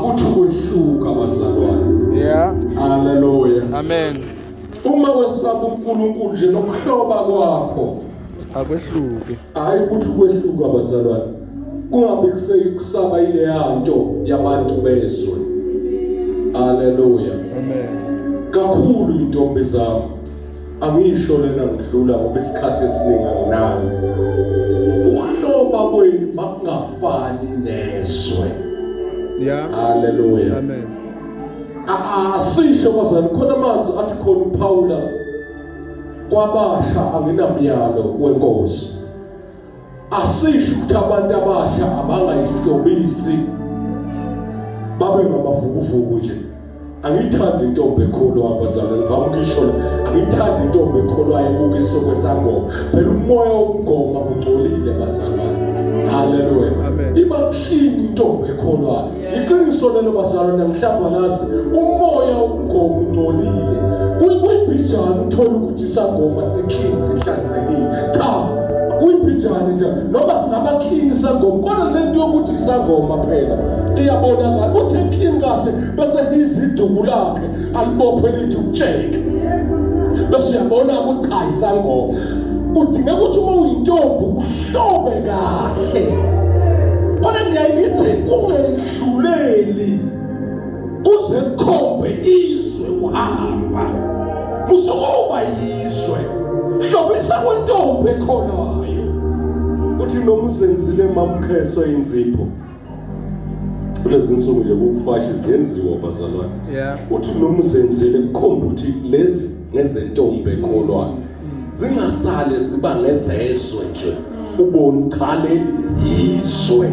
ukuthi ukwehluka abazalwane yeah haleluya amen uma wesaba uNkulunkulu nje nokuhloba kwakho akwehluke hayi ukuthi ukwehluka abazalwane kungabe kuseyikusaba ile yanto yabantu bezwe haleluya amen kakhulu intombi zami Angisho lena ngidlula ngoba isikhathi esiningi anginayo. Ukuhloba kwenu makungafani nezwe. Yeah. Hallelujah. Amen. Asisho bazali khona amazwi athi khona uPawula kwabasha anginamyalo wenkosi. asisho ukuthi abantu abasha abangayihlobisi babe ngamavukuvuku nje angiyithandi intombi ekhulu abazalwane ngivama ukuyisho la angiyithandi intombi ekhulu ayebuka isokwe sangoma phela umoya wokugoma ungcolile bazalwane haleluya iba clean intombi ekholwayo Iqiniso lelo bazalwane mhlawumbe alazi umoya womgomo ungcolile. Kuyibhijana uthola ukuthi isangoma si-clean sihlanzekile. Cha, kuyibhijana nje noma singaba clean isangoma kodwa le nto yokuthi isangoma phela iyabonakala ukuthi clean kahle bese iziduku lakhe alibophe lithi ukutsheke bese uyabona ukuthi cha isangoma kudinga ukuthi uma uyintombi uhlobe kahle kodwa ngiyaye ngithi kungendluleli kuze kukhombe izwe uhamba usukuba yizwe hlobisa kwentombi ekhonayo uthi noma uzenzile mamkheso inzipho kulezi nsuku nje kukufashi ziyenziwa bazalwane uthi noma uzenzile kukhomba ukuthi lezi ngezentombi ekholwayo mm. zingasale ziba ngezezwe nje mm. ubone ukhaleli yizwe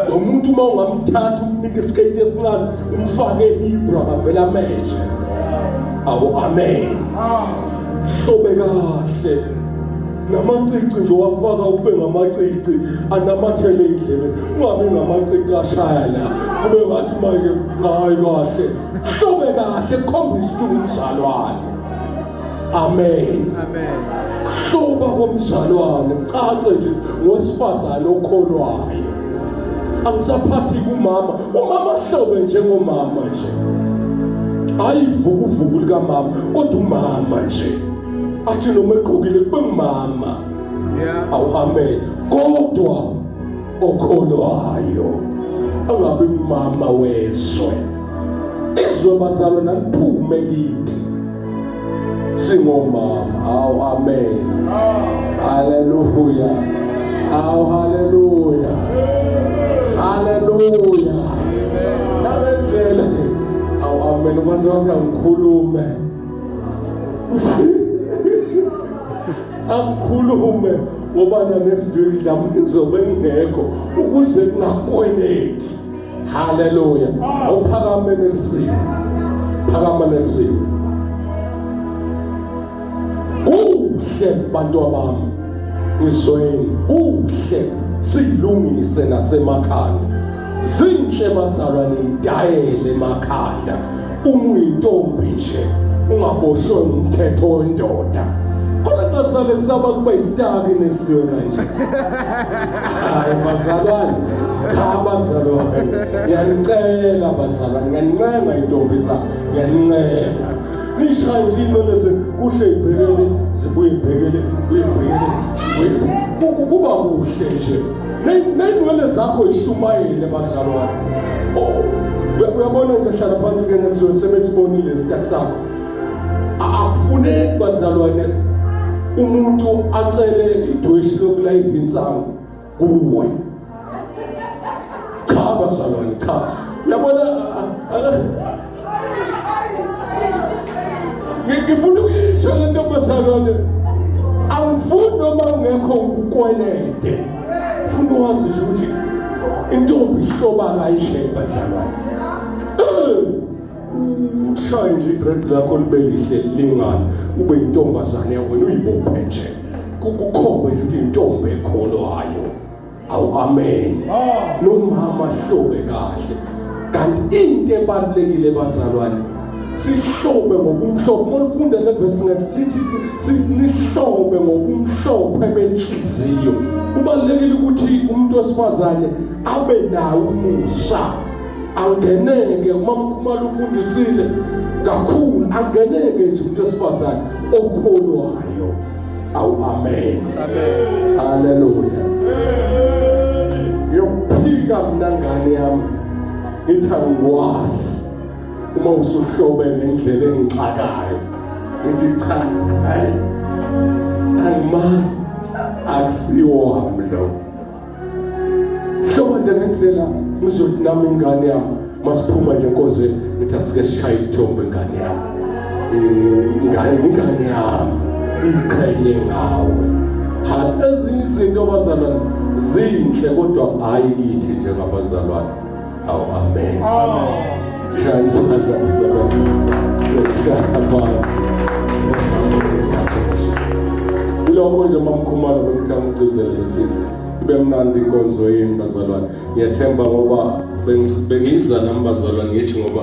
nomuntu uma ungamthatha umnike isiketi esincane umfake ibra ngavela amehlo awu amen hlobe kahle namacici nje wafaka kube ngamacici anamathele indlebe ungabe ngamacici ashaya la kube ngathi manje hayi kahle hlobe kahle khombisa ukuthi umzalwane amen amen hloba komzalwane cace nje ngowesifazane okholwayo angisaphathi kumama umama hlobe njengomama nje ayivukuvuku likamama kodwa umama nje athi noma egqokile kube ngumama awu amen kodwa okholwayo angabi umama wezwe izwe bazalwa naliphume kithi singomama awu amen haleluya awu haleluya haleluya nabendlela awu amen kwaze wathi angikhulume akukhulume ngoba next week mhlawumbe izobe ingekho ukuze kungakweleti haleluya awuphakame nesimo phakama nesimo kuhle bantu abami ngizweni kuhle silungise nasemakhanda zinhle bazalwane idayele emakhanda uma uyintombi nje ungaboshwe umthetho wendoda khona ngasale kusaba kuba isitaki nesiwe kanje hayi bazalwane cha bazalwane ngiyanicela bazalwane ngiyanincenga intombi sa ngiyanincenga nisha nje imele kuhle ibhekele zibuye ibhekele buye ibhekele kuba kuhle nje neyinwele zakho yishumayele bazalwane oh, uyabona nje hlala phansi ke nesiwe sebesibonile isitak sakho akufuneki bazalwane umuntu acele idweshi lokulayitha insangu kuwe cha bazalwane cha uyabona ngifuna ukuyisho le ntombazalwane angifuni noma ungekho ukwelede funa wazi nje ukuthi intombi ihloba kayishaye bazalwane ushaye nje igrade lakho libe lihle lingani ube intombazane wena uyibophe nje kukhombe nje ukuthi intombi ekholo hayo awu amen nomama hlobe kahle kanti into ebalulekile bazalwane sihlobe ngokumhlophe uma ufunda le verse ngelithi sihlobe ngokumhlophe benhliziyo kubalekile ukuthi umuntu wesifazane abe nawo umusa angeneke uma mkhumalo ufundisile kakhulu angeneke nje umuntu wesifazane okholwayo awu amen amen haleluya yokuphika mina ngane yami ithi angikwazi uma usuhlobe ngendlela engixakayo ithi cha hayi angimazi akusiwo wami lowo hlobo nje ngendlela uzothi nami ingane yami masiphuma nje enkonzweni ngithi asike sishaye isithombe ingane yami ingane ingane yami iqhenye ngawe ha ezinye izinto abazalwane zinhle kodwa hayi kithi njengabazalwane Awu amen. Amen. Shaya isandla usebenza. Shaya phansi. Kulokho nje mamkhumalo bengithanda ukugcizela lesisi. Ibe mnandi inkonzo yenu bazalwane. Ngiyathemba ngoba bengiza nami bazalwane ngithi ngoba